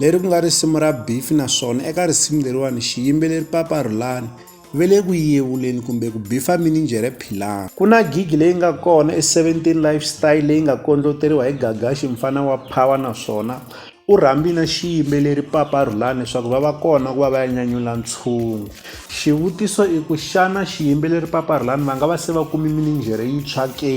leri ku nga risimu ra bifi naswona eka risimu leriwani xiyimbeleri papa rhulani ve le ku yevuleni kumbe ku bifa mininjhere philani ku na gigi leyi nga kona e17 lifestyle leyi nga kondloteriwa hi gagaxi mfana wa power naswona u rhambi na xiyimbeleri papa rhulani leswaku va va kona ku va va ya nyanyula ntshungu xivutiso i ku xana xiyimbeleri papa rhulani va nga va se va kumi mininjhere yintshwa ke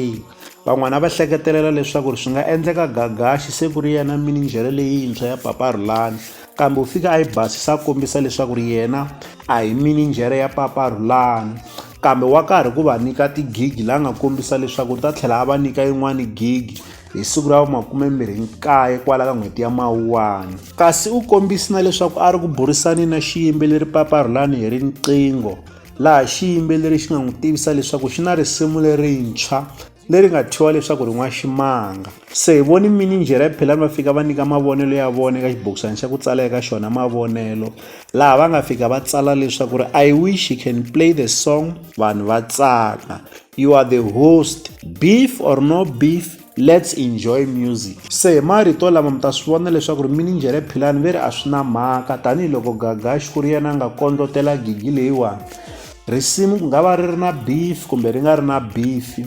Van'wana va hleketelela leswaku swi nga endleka Gagashi se ku ri yena mininjhere leyintshwa ya Papa Rhulani, kambe u fike a yi basisa a kombisa leswaku ri yena a hi mininjhere ya Papa Rhulani, kambe wa karhi ku va nyika tigigi la nga kombisa leswaku u ta tlhela a va nyika yin'wana gigi hi siku ra vu-29 kwala ka n'hweti ya Mawuwani. Kasi u kombise na leswaku a ri ku burisaneni na xiyimbeleri Papa Rhulani hi riqingho. laha xiyimbeleri xi nga n'wi tivisa leswaku xi na risimu lerintshwa leri nga thyiwa leswaku ri n'waximanga se hi voni mininjhere ya philani va fika va nyika mavonelo ya vona eka xibokisana xa ku tsala eka xona mavonelo laha va nga fika va tsala leswaku ri i wish he can play the song vanhu va tsaka you are the host beef or no beef Let's enjoy music. Se hi marito lama mi ta swi vona leswaku ri minijhere Philani ve ri a swi na mhaka tanihiloko Gagash ku ri yena a nga kondlotela gigi leyiwani. Risimu ku nga va ri ri na beef kumbe ri nga ri na beef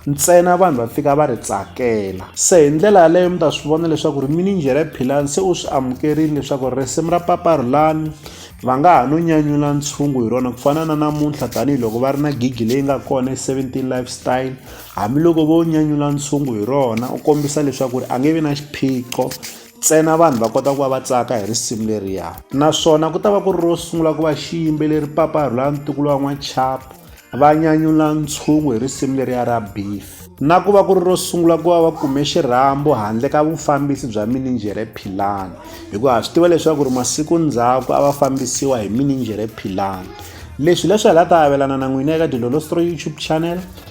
ntsena vanhu va fika va ri tsakela se hi ndlela yaleyo mi ta swi vona leswaku ri minijhere Philani se u swi amukerile leswaku risimu ra Papa Rhulani va nga ha no nyanyula ntshungu hi rona ku fana na namuntlha tanihiloko va ri na gigi leyi nga kona e 17 lifestyle Hambiloko vo nyanyula ntshungu hi rona u kombisa leswaku ri a nge vi na xiphiqo ntsena vanhu va kota ku va va tsaka hi risimu leriya naswona ku ta va ku ri ro sungula ku va xiyimbeleri papa rhula ntukulu wa n'wachapo va nyanyula ntshungu hi risimu leriya ra beef na ku va ku ri ro sungula ku va va kume xirhambo handle ka vufambisi bya mininjhere philani hikuva ha swi tiva leswaku ri masiku ndzhaku a va fambisiwa hi mininjhere philani leswi leswi hi la ta avelana na n'wina eka dilolostro youtube channel